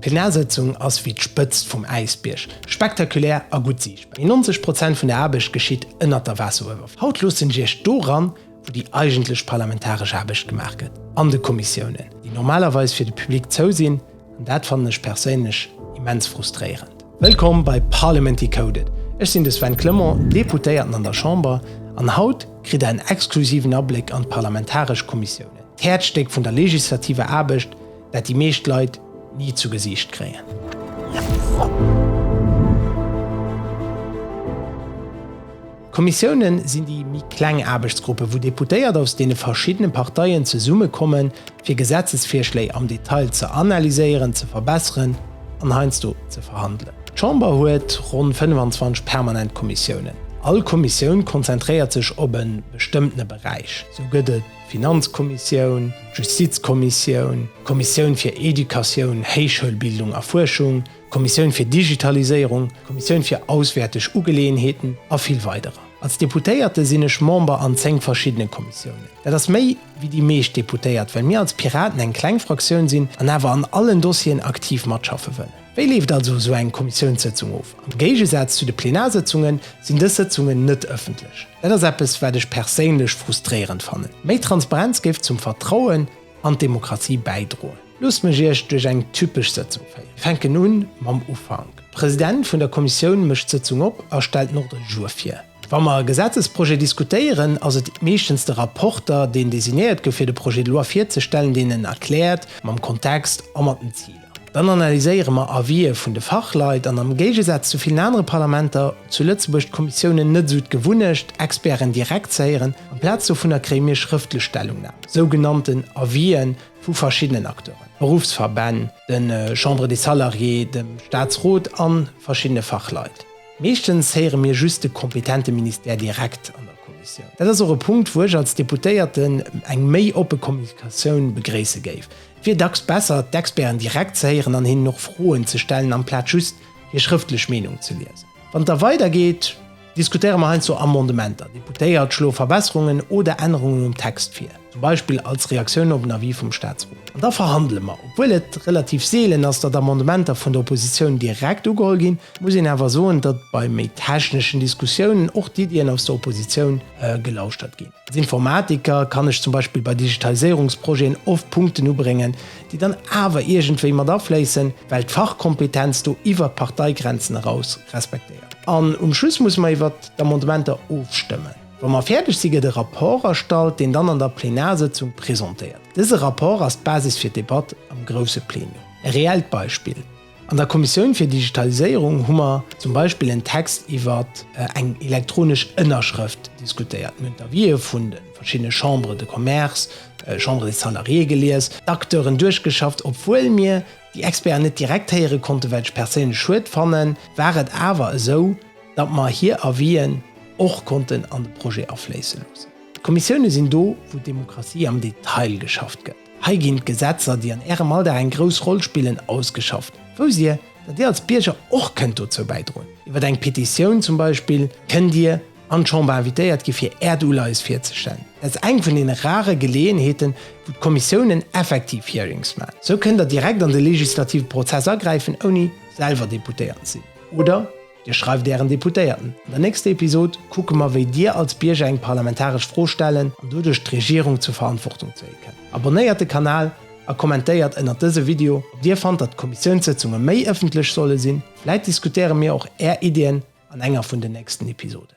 D'Plenarsétzung ass wéi d'Spëtzt vum Äisbierg, spektakulär a gutt siichtbar. Mee 90 Prozent vun der Aarbecht geschitt ënnert der Waasseruewerfläch. Haut loossen ech Iech do eran, wou déi eigentlech parlamentaresch Aarbecht gemaach gëtt, an de Kommissiounen, déi normalerweis fir de Public zou sinn. An dat fannen ech perséinlech immens frustréierend. Wëllkomm bei Parliament Decoded. Ech sinn de Sven Clement, Deputéierten an der Chamber, an haut kritt Der en exklusiven Abléck an d'parlamentaresch Kommissiounen, d'Häerzstéck vun der legislativer Aarbecht, dat déi meescht Leit ni zu Gesiicht kréien. D'Kommissiounen sinn déi méi kleng Aarbechtsgruppen, wou Deputéiert aus deene verschiddene Parteien zesummekommen, fir Gesetzesvirschléi am Detail ze analyséieren, ze verbesseren an heiansdo ze verhandelen. D'Chamber huet ronn 25 permanent Kommissiounen. All Kommissioun konzentréiert sech op e bestëmmtene Beräich. Sou gëtt et. Finanzkommissioun, Justizkommissioun, Kommissioun fir Educatioun, Héichschoulbildung a Fuerschung, Kommissioun fir Digitaliséierung, Kommissioun fir auswäerteg Ugeleeënheeten a vill weiderer. Als Deputéierte sinn ech Member an 10 verschiddene Kommissiounen. Dat ass méi wéi déi meescht Deputéiert, well mir als Piraten eng kleng Fraktioun sinn an awer an allen Dossieren aktiv matschaffe wëllen. Wéi leeft also esou eng Kommissiounssëtzung of? Am Géigesaz zu de Plenarsëtzunge sinn dës Sëtzungen net ëffentlech. Dat ass eppes, wat ech perséinlech frustréierend fannen. Méi Transparenz géif zum Vertrauen an d'Demokratie bäidroen. Loosst mech Iech duerch eng typesch Sëtzung féieren. Fänken un mam Ufank. De President vun der Kommissioun mécht d'Sëtzung op a stellt den Ordre du jour vir. Wa mer e Gesetzesprojet diskutéieren, ass et meeschtens de Rapporter, deen designéiert gouf, fir de Projet de loi virzestellen, deen en erkläert, mam Kontext a mat den Ziler. Dann analyséiere mer Avisë vun de Fachleit an am Géigesaz zu villen anere Parlamenter zu Lëtzebuerg d'Kommissiounen net esou d'Gewunnecht, Experten direkt ze héieren. Amplaz dovunner kréie mir schrëftlech Stellungnamen, sougenannten Avisë vu verschiddenen Acteuren, Beruffsverbänn, de Chambres des Salariés, dem Staatsrot a verschiddene Fachleit. Meeschtens héiere mir just de kompetente Ministère direkt an der Kommissioun. Dat ass och e Punkt, wou ech als Deputéierten eng méi oppe Kommunikatioun begréisse géif. wier dacks besser, d'Experten direkt ze héieren an hinnen och Froen ze stellen, amplaz just hir schrëftlech Meenung ze liesen. Wann et da weidergeet, diskutéiere mer heiansdo Amendementer. Deputéiert schloe Verbesserungen oder Ännerungen um Text vir, zum Beispill als Reaktioun op en Avis vum Staatsrot. An da verhandele mer. Obwuel et relativ seelen ass, datt Amendementer vun der Oppositioun direkt ugeholl ginn, muss een awer soen, datt bei méi techneschen Diskussiounen och d'Iddien aus der Oppositioun gelauschtert ginn. Als Informatiker kann ech zum Beispill bei Digitaliséierungsprojeten oft Punkten ubréngen, déi dann awer iergendwéi mat afléissen, well d'Fachkompetenz do iwwert d'Parteigrenzen eraus respektéiert gëtt. An um Schluss musse mer iwwert d'Amendementer ofstëmmen. Wa mer fäerdeg si, gëtt e Rapport erstallt, deen dann an der Plenarsëtzung presentéiert. Dëse Rapport ass d'Basis fir d'Debatt am grousse Plenum. E reellt Beispill. An der Kommissioun fir Digitaliséierung hu mer zum Beispill en Text iwwert eng elektronesch Ënnerschrëft diskutéiert. Mir hunn d'Avisë vun de verschiddene Chambres de Commerce, Chambre des Salariés gelies, d'Acteuren duerchgeschafft. Obwuel mir déi Experten net direkt héiere konnten, wat ech perséinlech schued fannen, war et awer esou, datt mer hir Avis'en och konnten an de Projet afléisse loossen. D'Kommissioune sinn do, wou d'Demokratie am Detail geschafft gëtt. Hei ginn d'Gesetzer, déi an Ärem Alldag eng grouss Roll spillen, ausgeschafft. Wousst Dir, datt Dir als Bierger och kënnt dozou bäidroen? Iwwer eng Petitioun zum Beispill kënnt Dir an d'Chamber invitéiert gi fir Äert Uleies virzestellen. Dat ass eng vun deene rare Geleeënheeten, wou d'Kommissiounen effektiv Hearings maachen. Esou kënnt Der direkt an de legislative Prozess agräifen, ouni selwer Deputéiert sinn oder. Dir schreift Ären Deputéierten. An der nächster Episod kucke mer, wéi Dir als Bierger eng parlamentaresch Fro stellen an doduerch d'Regierung zur Verantwortung zéie kënnt. Abonnéiert de Kanal a kommentéiert ënnert dëse Video, ob Dir fannt, datt d'Kommissiounssëtzunge méi ëffentlech solle sinn. Vläit diskutéiere mir och Är Iddien an enger vun den nächsten Episoden.